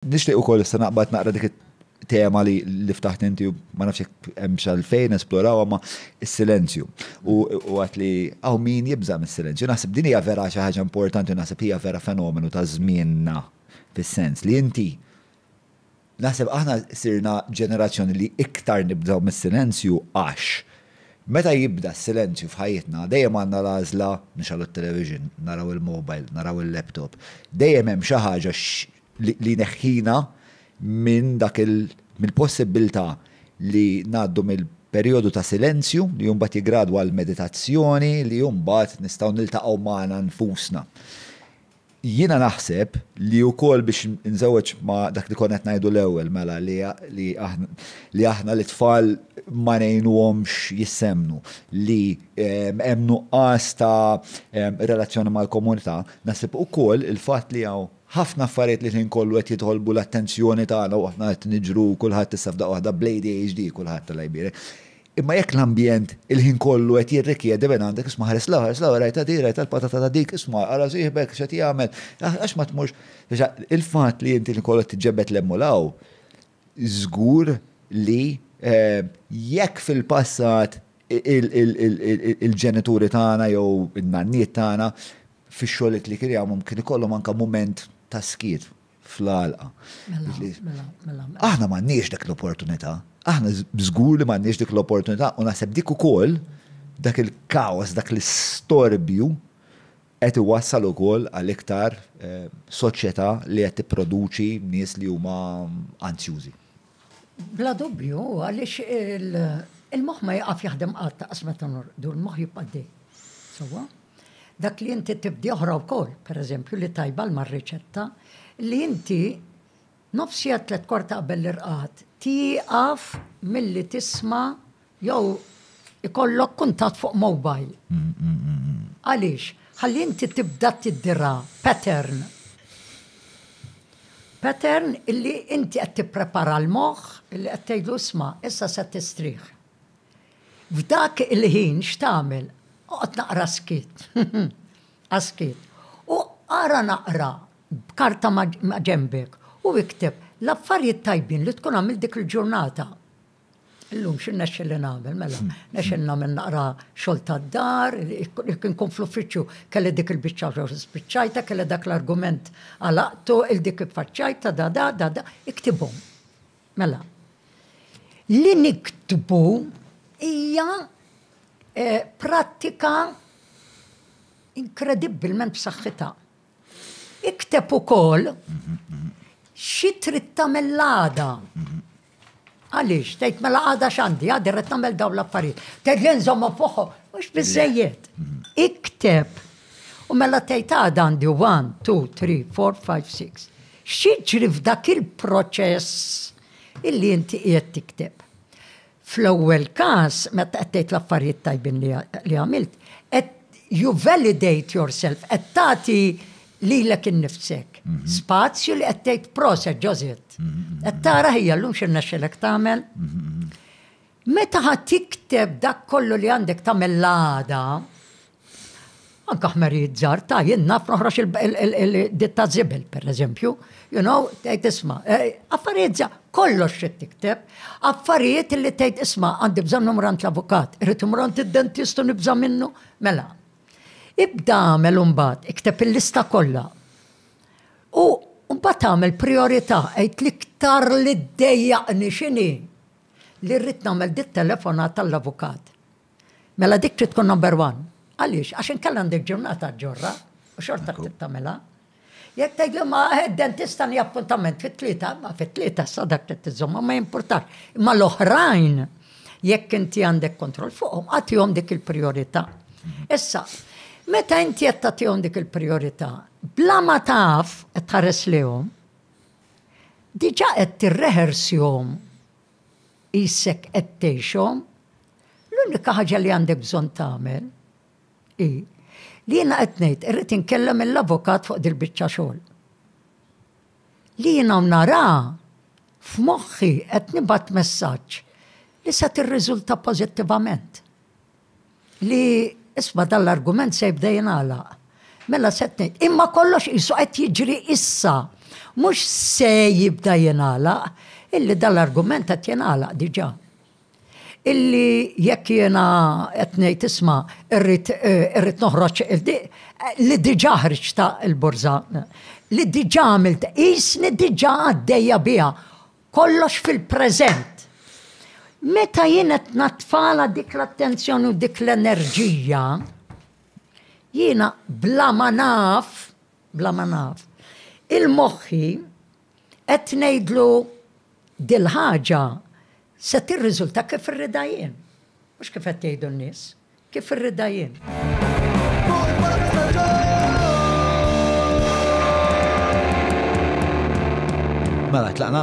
Nixtieq ukoll issa naqbad naqra dik it-tema li li ftaħt inti u ma nafx jekk hemmx għalfejn esplorawha ma s-silenzju. U u għedt li hawn min jibża' mis-silenzju. Naħseb din hija vera xi ħaġa importanti u naħseb hija vera fenomenu ta' żmienna fis-sens li inti naħseb aħna sirna ġenerazzjoni li iktar nibżgħu mis-silenzju għax meta jibda s-silenzju f'ħajjitna dejjem għandna l-għażla nixgħlu t-television, naraw il-mobile, naraw il-laptop. Dejjem hemm xi ħaġa li jneħħina minn dak il-, mill-possibbiltà li ngħaddu mill-perijodu ta' silenzju, li mbagħad jiggradwa għal meditazzjoni, li mbagħad nistgħu niltaqgħu magħna nfusna. Jiena naħseb li wkoll biex inżewweġ ma' dak li konna qed ngħidu l-ewwel mela li li aħna lit-tfal ma ngħinuhomx jissemmnu, li hemm nuqqas ta' relazzjoni mal-komunità, naħseb ukoll il-fatt li hawn, Ħafna affarijiet li l-ħin kollu qed jitolbu l-attenzjoni tagħna u aħna qed niġru kulħadd issa f'daqqa waħda bl-ADHD kulħadd Alla jbierek. Imma jekk l-ambjent il-ħin kollu qed jirrikjedi minn għandek isma' ħares l-hawn ħares l-hawn rajtha din rajtha l-patata ta' dik isma' ara sieħbek x'qed jagħmel għax ma tmurx il-fatt li inti l-ħin kollu qed tiġġebed l-hemm u l-hawn Żgur li jekk fil-passat il-ġenituri tagħna jew in-nanniet tagħna fix-xogħliet li kien jagħmlhom kien ikollhom anke mument ta' skiet fl-għalqa. Aħna m'għandniex dik l-opportunità. Aħna żgur li m'għandniex dik l-opportunità u naħseb dik ukoll dak il-kaos, dak l-istorbju Qed iwassal ukoll għal iktar soċjetà li qed tipproduċi nies li huma anzjużi. Bla dubju, għaliex il-moħħ ma jieqaf jaħdem qatt, lanqas meta norqdu, il-moħħ jibqa' għaddej. Sewwa? Dak li inti tibdi oħra wkoll, pereżempju, li tajba l-mar-riċetta, li inti Nofs siegħa tlietkwart qabel l-irqad tieqaf milli tisma' jew ikollok kuntatt fuq mobile. Għaliex? Ħalli inti tibda tiddira pattern. Pattern illi inti qed tipprepara l-moħħ illi qed tgħidlu isma' issa se tistrieħ. F'dak il-ħin x'tagħmel? Oqgħod naqra s-skiet. ASCII, u ara naqra b'karta ma' ġenbek u ikteb l-affarijiet tajbin li tkun għamilt dik il-ġurnata. Illum xi rnexxieli nagħmel, mela, rnexxieli nagħmel naqra xogħol tad-dar, jekk inkun fl-uffiċċju kelli dik il-biċċa xogħol spiċċajtha, kelli dak l-argument għalaqtu, il-dik iffaċċajtha, da da da da, iktibhom. Mela, li niktbu hija prattika inkredibbilment b'saħħitha. Ikteb ukoll xi trid tagħmel l-għada. Għaliex, tgħid mela għada x'għandi, għadi rrid nagħmel dawn l-affarijiet. Tgħid li nżommhom fuqhom, mhux biżejjed. Ikteb. U mela tgħid għada għandi 1, 2, 3, 4, 5, 6. X'jiġri f'dak il-proċess illi inti qiegħed tikteb? Fl-ewwel każ, meta qed tgħid l-affarijiet tajbin li għamilt, qed you validate yourself, qed tagħti lilek innifsek. Mhm. Spazju li qed tgħid proset ġożiet. Mhm, mhm, qed tara ħija llum x'irnexxilek tagħmel. Meta ħadd tikteb dak kollu li għandek tagħmel l-għada, Anka ħmerijiet żgħar ta' jien naf noħroġ il-ditta żibel, pereżempju, you know, tgħid isma', eh, affarijiet żgħar, kollox xi tikteb, affarijiet li tgħid isma' għandi bżonn numru għand l-avukat, irid imur għand id-dentist u nibża' minnu. Mela, ibda għamel imbagħad, ikteb il-lista kollha. U mbagħad tagħmel priorità, għid l-iktar li ddejjaqni x'inhi li rrid nagħmel dit-telefonat tal-avukat. Mela dik trid tkun number one. Għaliex? Għax inkella għandek ġurnata ġorra u xorta trid tagħmilha. Jekk tgħidli ma eh, dentista ni appuntament fit-tlieta, ma fit-tlieta sa dak trid tiżomma ma jimpurtax. Imma l-oħrajn jekk inti għandek kontroll fuqhom għatihom dik il-priorità. Issa, meta inti qed tagħtihom dik il-priorità, bla ma taf qed tħares lihom, diġà qed tirrehersjhom Qisek qed tgħixhom. L-unika ħaġa li għandek bżonn tagħmel hi li jiena qed ngħid irrid inkellem mill-avukat fuq dil-biċċa xogħol. Li jiena nara f'moħħi qed nibgħat messaġġ li se tirriżulta pożittivament. Li isma' dan l-argument se jibda jingħalaq. Mela se tnejn, imma kollox qisu qed jiġri issa. Mhux se jibda jingħalaq, illi dan l-argument qed jingħalaq diġà. Illi jekk jiena qed ngħid isma' irrid eh, noħroġ eh, li diġà ħriġ ta' il-borża, li diġà għamilt, qisni diġà għaddejja biha Kollox fil-preżent. Meta jien qed natfala dik l-attenzjoni u dik l-enerġija, jiena bla ma naf, bla ma naf, il-moħħi qed ngħidlu dil-ħaġa se tirriżulta kif irridha jien. Mhux kif qed jgħidu n-nies. Kif irridha jien. Mela, tlaqna?